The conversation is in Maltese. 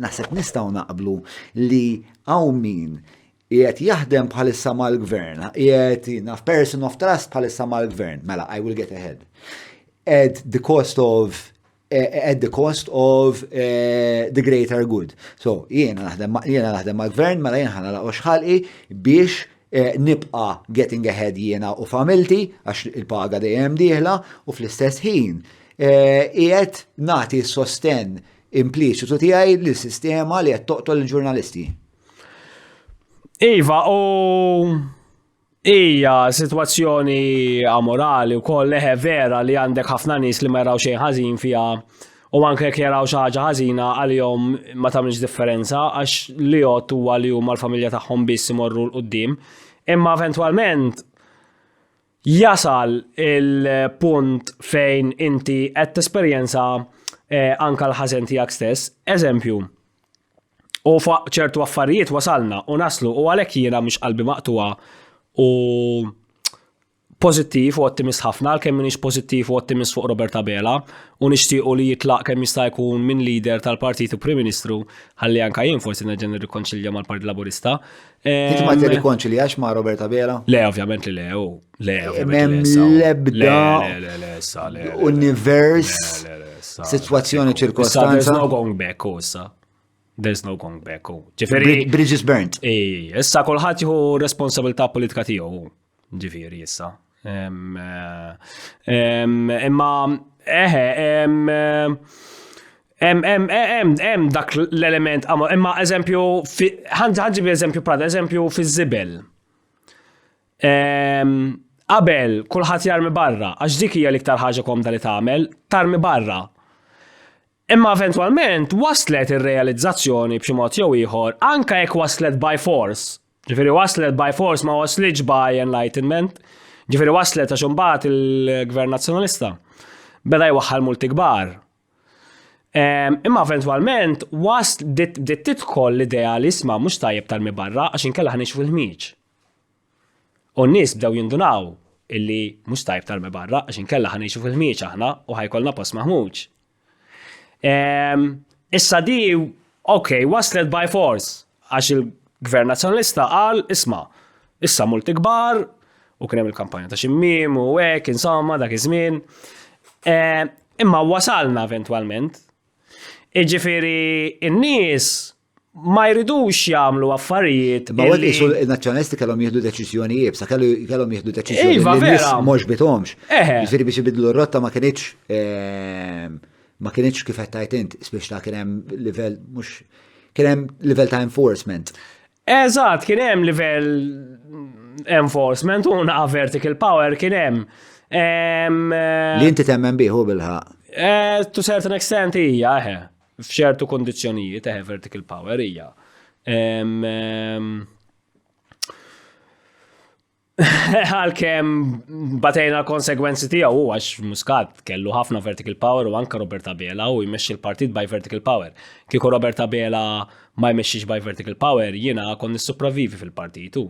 Naħseb nistgħu naqblu li hawn min qiegħed jaħdem bħalissa mal-gvern, qiegħed naf person of trust bħalissa mal-gvern, mela I will get ahead. At the cost of eh, eh, at the cost of uh, the greater good. So, jiena naħdem jiena naħdem mal-gvern, mela jiena ħana laqgħu xħalqi biex Eh, nibqa getting ahead jiena u familti, għax il-paga dejjem dieħla, u fl-istess ħin, eh, qiegħed nagħti sosten impliċitu tiegħi li sistema li qed toqtol il-ġurnalisti. Iva, u Ija, situazzjoni amorali u koll leħe vera li għandek ħafna nis li ma jaraw xejn ħażin fija u anke jekk jaraw xi ħaġa ħażina għalihom ma tagħmilx differenza għax li jgħod huwa li huma l-familja tagħhom biss imorru l qudiem Imma eventwalment jasal il-punt fejn inti qed tesperjenza eh, anka l-ħażen tiegħek stess. Eżempju, u fuq ċertu affarijiet wasalna u naslu u għalhekk jiena mhux qalbi maqtuha u pozittiv u ottimist ħafna, kemm minix pozittiv u ottimist fuq Robert Abela, u nixtiequ li jitlaq kemm jista' jkun minn leader tal-Partit u Prim Ministru, ħalli anka jien forsi nerġa' nirrikonċilja mal-Partit Laburista. Inti ma tirrikonċiljax ma' Robert Abela? Le, ovvjament li le, u le, Mem lebda univers, situazzjoni ċirkostanza. There's no going back, u issa. There's no going back, u. Ġifiri. Bridges burnt. Ej, issa kolħat jħu responsabilta politika tiegħu. Ġifieri issa. Imma eħe, hemm dak l-element imma eżempju ħanġib eżempju prada, eżempju fiż-żibel. Qabel kulħadd jarmi barra, għax dik hija l-iktar ħaġa komda li tagħmel, tarmi barra. Imma eventwalment waslet ir-realizzazzjoni b'xi mod jew ieħor anke jekk waslet by force, Ġifieri waslet by force ma waslitx by enlightenment. Ġifieri waslet għax imbagħad il-Gvern Nazzjonalista beda jwaħħal multi kbar. Ehm, imma eventwalment was bdiet tidħol l-idea li isma' mhux tajjeb tal barra għax inkella ħanix fil-ħmieġ. U n-nies bdew jindunaw illi mhux tajjeb tal barra għax inkella ħanix fil-ħmieġ aħna u ħajkolna post maħmuġ. Ehm, issa di, ok, waslet by force, għax il-gvern nazjonalista għal, isma, issa multi kbar, u kienem il-kampanja ta' ximmim, u għek, insomma, dak iż-żmien. Ehm, imma wasalna eventualment. Iġifiri, in-nies ma jridux jagħmlu affarijiet. Ma għad jisu il-nazjonalisti kellhom jieħdu deċiżjoni jibsa, kellhom jieħdu deċiżjoni iva, li mhux bitomx. Ġifieri biex ibidlu r-rotta ma kienx ehm, ma kienx kif qed tajt int, spiex ta' kien hemm livell mhux kien hemm livell ta' enforcement. Eżatt, kien hemm livell enforcement u naqa vertical power kien hemm. Ehm, Li inti temmen biħu bilħa. Eh, to certain extent hija, eħe. F'ċertu kundizzjonijiet, eħe vertical power hija. Għalkemm batejna l-konsegwenzi tiegħu għax Muscat kellu ħafna vertical power u anka Roberta Bela u jmexxi l-partit by vertical power. Kieku Roberta Bela ma jmexxix by vertical power jiena kon nissupravivi fil-partitu.